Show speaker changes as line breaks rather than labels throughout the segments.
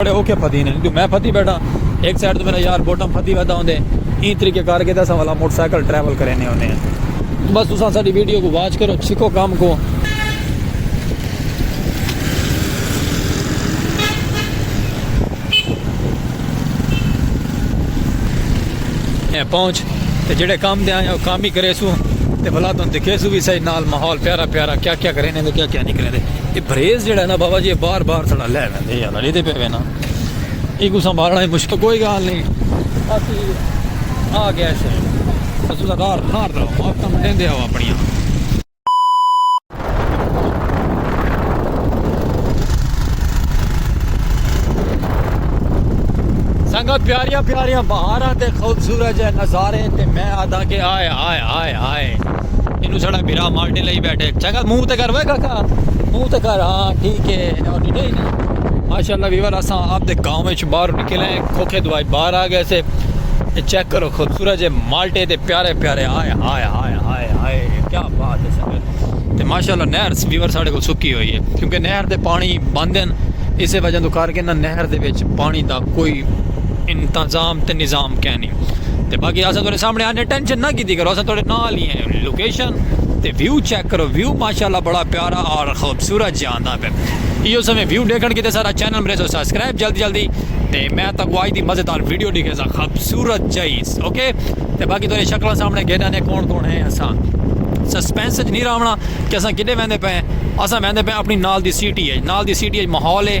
بڑے اوکھے پھدی ہن جو میں پھدی بیٹھاں ہک سائیڈ توں میݙا یار بوٹم پھدی ویدا ہوندے ایں طریقے کر کے تے اساں والا موٹر سائیکل ٹریول کریندے ہوندے ہن بس تساں ساݙی ویڈیو کوں واچ کرو سکھو کم کوں۔ پہنچ تے جیڑھے کم تے آیاں او کم ہی کریسوں تے بھلا توں دکھیسوں وی سہی نال ماحول پیارا پیارا کیا کیا کریندے کیا کیا نی کریندے اے بھریز جیڑھا ہے نا بابا جی بار بار ساݙا لے ویندا اے یار اڑے دے پے وینا اے کو سنبھالنا ہے مشکل کوئی گال نہیں اسی آ گیا ہے اسی دا دار نار دا آپ تم دین دے آوا پڑیاں سنگا پیاریاں پیاریاں بہاراں تے خوبصورت جے نظارے تے میں آدھا کہ آئے آئے آئے آئے اینوں ساڑا بھرا مالٹے لئی بیٹھے چنگا منہ تے کر وے کاکا منہ تے کر ہاں ٹھیک ہے اور ڈیٹا ہی نا ماشاءاللہ ویور اساں آپ دے گاؤں وچ باہر نکل آئے کھوکھے دوائی باہر آ گئے سے چیک کرو خوبصورت جے مالٹے تے پیارے پیارے آئے آئے آئے آئے آئے کیا بات ہے سنگت تے ماشاءاللہ نہر ویور ساڑے کو سکی ہوئی ہے کیونکہ نہر دے پانی بند ہیں اسے وجہ تو کار کے نہر دے وچ پانی دا کوئی انتظام تے نظام کہنی تے باقی اساں تہاڈے سامنے آنے ٹینشن نہ کیتی کرو اساں تہاڈے نال ہی ہیں لوکیشن تے ویو چیک کرو ویو ماشاءاللہ بڑا پیارا اور خوبصورت جے آندا پے ایو سمے ویو ڈیکھن کیتے سارا چینل میرے سو سبسکرائب جلدی جلدی تے میں تاکو آج دی مزیدار ویڈیو ڈیکھے سا خوبصورت جائز اوکے تے باقی تہاڈے شکلاں سامنے گھیڈا نے کون کون ہیں اساں سسپینس وچ نہیں راونا کہ اساں کدے ویندے پے اساں ویندے پے اپنی نال دی سٹی ہے نال دی سٹی ہے ماحول ہے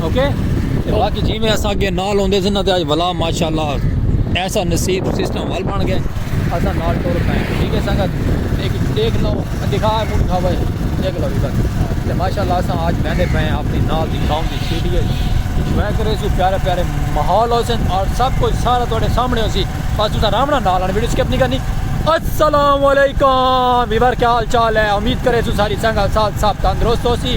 اوکے تے باقی جیویں اساں اگے نال ہوندے سے نا تے اج ولا ماشاءاللہ ایسا نصیب سسٹم ول بن گئے اساں نال ٹر پئے ٹھیک ہے سنگت ایک دیکھ لو دکھا منہ دکھا بھائی دیکھ لو بس تے ماشاءاللہ اساں اج بہندے پئے اپنی نال دی گاؤں دی سٹی ہے انجوائے کرے سو پیارے پیارے ماحول ہو سن اور سب کچھ سارا تواڈے سامنے ہو سی بس تساں آرام نال نال ویڈیو سکپ نہیں کرنی السلام علیکم ویور کیا حال چال ہے امید کرے سو ساری سنگت ساتھ سب تندرست ہو سی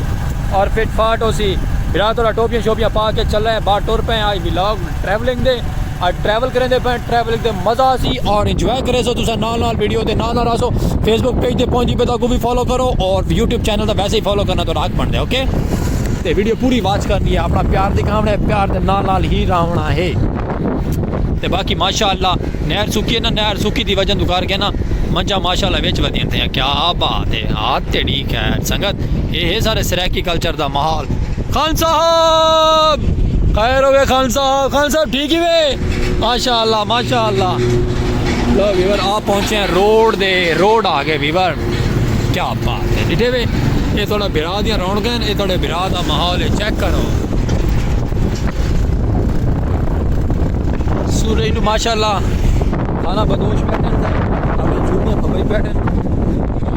اور فٹ فاٹ ہوسی برا تھوڑا ٹوپیاں شوپیاں پا کے چلے ہیں باہر ٹر پے ہیں آج ولاگ ٹریولنگ دے اور ٹریول کریں دے پے ٹریولنگ دے مزہ آسی اور انجوائے کرے سو تسا نال نال ویڈیو دے نال نال راسو فیس بک پیج دے پہنچی پہ تاکو بھی فالو کرو اور یوٹیوب چینل دا ویسے ہی فالو کرنا تو راک بن دے اوکے تے ویڈیو پوری واچ کرنی ہے اپنا پیار دکھاونا ہے پیار دے نال نال ہی راونا ہے تے باقی ماشاءاللہ نہر سکی ہے نا نہر سکی دی وجہ تو کر کے نا منجا ماشاءاللہ وچ ودین تھے کیا بات ہے ہاتھ تیڑی خیر سنگت اے ہے سارے سرائیکی کلچر دا محال خان صاحب خیر ہوئے خان صاحب خان صاحب ٹھیک ہی وے ماشاء اللہ ماشاء اللہ لو ویور آپ پہنچے ہیں روڈ دے روڈ آ گئے ویور کیا بات ہے ڈٹھے وے یہ تھوڑا برا دیا رون گئے یہ تھوڑے برا دا محال ہے چیک کرو سورج نو ماشاء اللہ کھانا بدوش بیٹھے ہیں اگر چھوٹے تو بھائی بیٹھے ہیں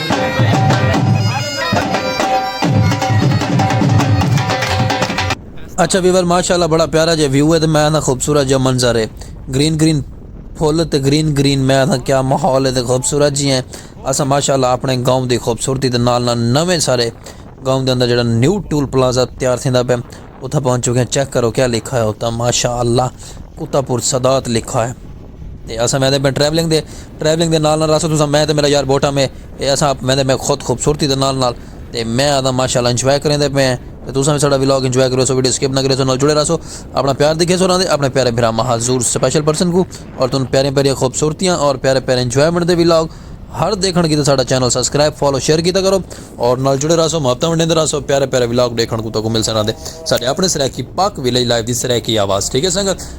اچھا ویور ماشاءاللہ بڑا پیارا جے ویو ہے تے میں نا خوبصورت جے منظر ہے گرین گرین پھول تے گرین گرین میں نا کیا ماحول ہے تے خوبصورت جی ہیں اسا ماشاءاللہ اپنے گاؤں دی خوبصورتی تے نال نال نویں سارے گاؤں دے اندر جڑا نیو ٹول پلازہ تیار تھیندا پے اتھا پہنچ چکے ہیں چیک کرو کیا لکھا ہے اتھا ماشاءاللہ کتا پور صدات لکھا ہے تے اساں ویندے پئے ٹریولنگ دے ٹریولنگ دے نال نال راستے تساں میں تے میڈا یار بوٹاں میں تے اساں ویندے پئے خود خوبصورتی دے نال نال تے میں آدھاں ماشاءاللہ انجوائے کریندے پئے ہیں تے تساں وی ساڈا ولاگ انجوائے کریسو ویڈیو سکپ نہ کریسو نال جڑے راہسو اپنا پیار دکھیسو راہندے اپنے پیارے بھرا مہاذور سپیشل پرسن کوں اور تن پیاریاں پیاریاں خوبصورتیاں اور پیارے پیارے انجوائمنٹ دے ولاگ ہر دیکھن کیتے ساڈا چینل سبسکرائب فالو شیئر کیتا کرو اور نال جڑے راہسو محبتاں ونڈیندے راہسو پیارے پیارے ولاگ دیکھن کوں تہاکوں ملسن راہندے ساڈے اپنے سرائیکی پاک ولیج لائیو دی سرائیکی آواز ٹھیک ہے سنگت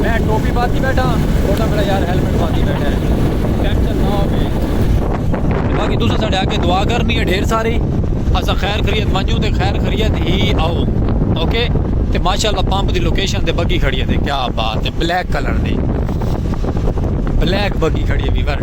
میں ٹوپی پاتی بیٹھا چھوٹا میرا یار ہیلمٹ پاتی بیٹھا ہے ٹینشن نہ ہو گئی باقی تسا ساڈے آگے دعا کرنی ہے ڈھیر ساری اسا خیر خریت منجو تے خیر خریت ہی آؤ اوکے تے ماشاءاللہ پمپ دی لوکیشن تے بگی کھڑی ہے تے کیا بات ہے بلیک کلر دی بلیک بگی کھڑی ہے ویور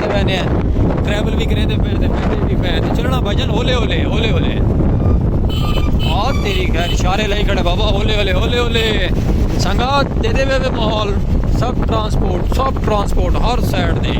کریندے پیندے ہیں ٹریول وی کریندے پے ہیں تے بیٹھے وی پے ہیں تے چلنا بھائی جان ہولے ہولے ہولے ہولے آ تیری خیر اشارے لائی کھڑے بابا ہولے ہولے ہولے ہولے سنگا دے دے وے ماحول سب ٹرانسپورٹ سب ٹرانسپورٹ ہر سائڈ دے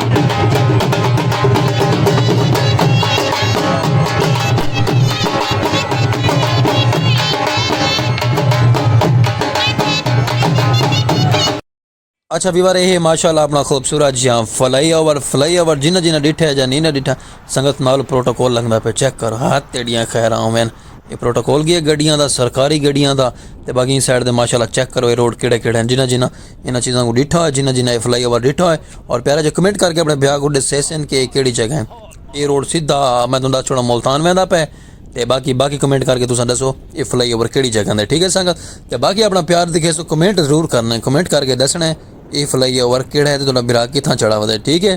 اچھا ویور یہ ماشاء اللہ اپنا خوبصورت جی ہاں فلائی اوور فلائی اوور جنہ جنہ ڈٹھا جا نہیں نہ ڈٹھا سنگت نال پروٹوکول لگنا پہ چیک کرو ہاتھ تیڑیاں خیر آوین یہ پروٹوکول گیا گڈیاں دا سرکاری گڈیاں دا تے باقی سائڈ دے ماشاء اللہ چیک کرو یہ روڈ کیڑے کیڑے ہیں جنہ جنہ انہاں چیزاں کو ڈیٹھا ہوئے جنہاں جنہاں اے فلائی اوور ڈیٹھا ہوئے اور پیارا جو کمنٹ کر کے اپنے بھیا کو ڈسے سن کہ کیڑی جگہ ہیں اے روڈ سیدھا میں توں دس چھوڑا ملتان ویندا پے تے باقی باقی کمنٹ کر کے تساں دسو اے فلائی اوور کیڑی جگہ دے ٹھیک ہے سنگت تے باقی اپنا پیار دکھے سو کمنٹ ضرور کرنا کمنٹ کر کے دسنا اے فلائی اوور کیڑا ہے تے تہاڈا بھرا کتھاں چڑھا ودے ٹھیک ہے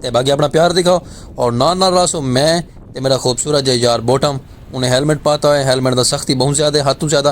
تے باقی اپنا پیار دکھاؤ اور نال نال راسو میں تے میرا خوبصورت جے یار بوٹم انہیں ہیلمٹ پاتا ہوئے ہیلمٹ دا سختی بہت زیادہ ہاتھوں زیادہ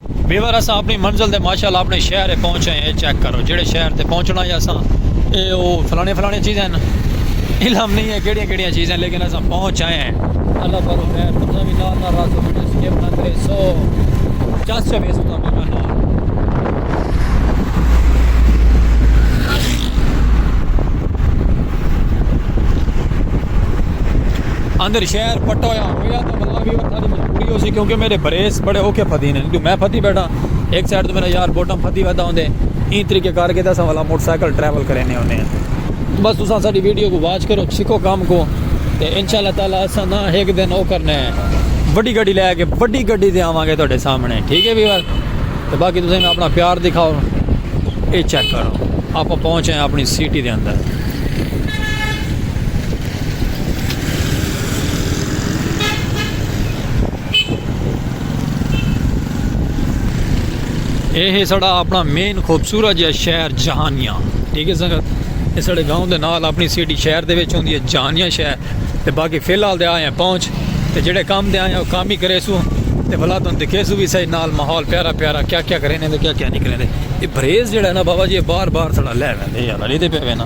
بیور اساں اپنی منزل دے ماشاء اللہ اپنے شہر اے پہنچے ہیں اے چیک کرو جیڑھے شہر تے پہنچنا یا اساں اے او فلانے فلانے چیزیں ہیں علم نہیں ہے کیڑیاں کیڑیاں چیزیں لیکن اساں پہنچ آئے ہیں اللہ کرو خیر تساں بھی نال نال راسو ویڈیو سکپ نہ کرے سو چس سے ویسو تاں بڑا نال اندر شہر پٹویا ہویا دا وللہ ویور تھاڈی مجبوری ہوسی کیونکہ میڈے بریس بڑے اوکھے پھدی نے جدوں میں پھدی بیٹھا ہک سائیڈ توں میڈا یار بوٹم پھدی ویدا ہوندے ایں طریقے کار کے تے اساں وللہ موٹر سائیکل ٹریول کرینے ہونے آں بس تساں اساڈی ویڈیو کوں واچ کرو سکھو کم کوں تے انشاءاللہ تعالی اساں نا ہک دن او کرنے وڈی گڈی لے کے وڈی گڈی تے آواں گے تہاڈے سامنے ٹھیک ہے ویور تے باقی تساں اپنا پیار دکھاؤ اے چیک کرو آپاں پہنچے آں اپنی سٹی دے اندر۔ یہ ہے ساڑا اپنا مین خوبصورت جہاں شہر جہانیاں ٹھیک ہے سنگت یہ ساڑے گاؤں دے نال اپنی سیٹی شہر دے وچ ہوندی ہے جہانیاں شہر تے باقی فی الحال دے آئے ہیں پہنچ تے جڑے کام دے آئے ہیں وہ کام ہی کرے سو تے بھلا تن دکھے سو بھی صحیح نال ماحول پیارا پیارا کیا کیا کریں دے کیا کیا نہیں کریں دے یہ بریز جڑا ہے نا بابا جی بار بار ساڑا لے ویندے یار علی دے پہ وینا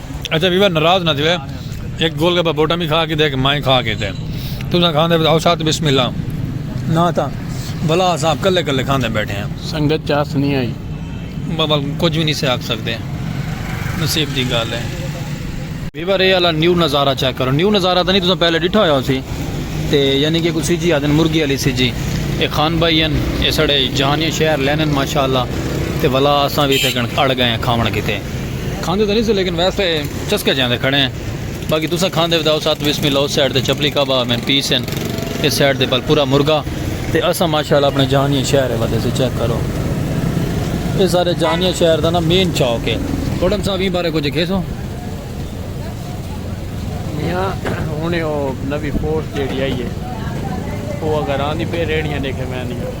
اچھا بیوا ناراض نہ تھیوے ایک گول گپا بوٹا بھی کھا کے دے میں کھا کے تے تساں کھاندے او ساتھ بسم اللہ نہ تھا بلا صاحب کلے کلے کھاندے بیٹھے ہیں سنگت چاس نہیں آئی
بابا
کچھ بھی نہیں سے آکھ سکدے نصیب دی گل ہے بیوا رے والا نیو نظارہ چیک کرو نیو نظارہ تھا نہیں تساں پہلے ڈٹھا ہویا سی تے یعنی کہ کوئی سی جی آدن مرغی علی سی جی اے خان بھائی ہیں اے سڑے جہانی شہر لینن ماشاءاللہ تے ولا اساں بھی تے کن اڑ گئے ہیں کھاون کیتے کھاندے تاں نی سے لیکن ویسے چسکے جیاں دے کھڑے ہیں باقی تساں کھاندے وی تاں او ساتھ بسم اللہ اس سائیڈ تے چپلی کعبہ میں پیس ہیں اس سائیڈ تے پل پورا مرغا تے اساں ماشاءاللہ اپنے جہانیہ شہر ہے ودے سے چیک کرو اے سارے جہانیہ شہر دا نا مین چوک ہے گوڈم صاحب ایں بارے کچھ کھیسو میاں ہن او نوی پوسٹ
جیڑی آئی ہے او اگر آندی پے ریڑیاں دیکھے میں نہیں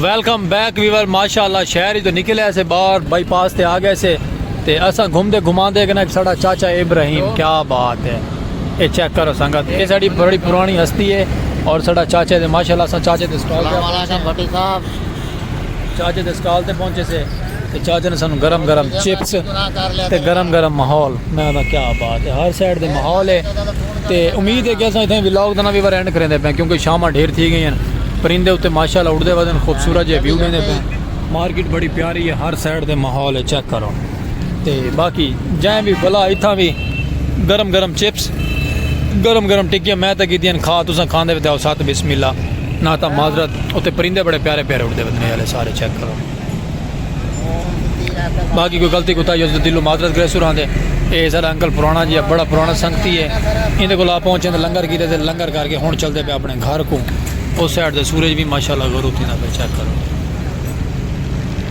ویلکم بیک ویور ماشاءاللہ شہر ہی تو نکل آئے سے باہر بائی پاس تے آ گئے سے تے اسا گھوم دے گھما دے گنا ایک ساڑا چاچا ابراہیم کیا بات ہے اے چیک کرو سنگت اے ساڑی بڑی پرانی ہستی ہے اور ساڑا چاچا دے ماشاءاللہ اسا چاچا دے سٹال پہ آ گئے سے چاچے دے سٹال تے پہنچے سے تے چاچے نے سانو گرم گرم چپس تے گرم گرم ماحول میں آدھا کیا بات ہے ہر سائڈ دے ماحول ہے تے امید ہے کہ اساں اتنے ولاگ دنا بھی بار اینڈ کریں دے پہ کیونکہ شامہ ڈھیر تھی گئی ہیں پرندے اتے ماشاءاللہ اڑ دے وزن خوبصورت جے ویو دیں دے پہ مارکیٹ بڑی پیاری ہے ہر سائڈ دے ماحول ہے چیک کرو تے باقی جائیں بھی بلا اتھاں بھی گرم گرم چپس گرم گرم ٹکیاں میں تے کیتیاں کھا تساں کھاندے تے او سات بسم اللہ نہ تا معذرت اوتے پرندے بڑے پیارے پیارے اڑدے ودنے والے سارے چیک کرو باقی کوئی غلطی کوتا ہی دلو معذرت کرے سران دے اے سارا انکل پرانا جی بڑا پرانا سنگتی ہے ان دے کولا پہنچے تے لنگر کیتے تے لنگر کر کے ہن چلدے پے اپنے گھر کو او سائیڈ دے سورج بھی ماشاءاللہ غروب تھیندا پے چیک کرو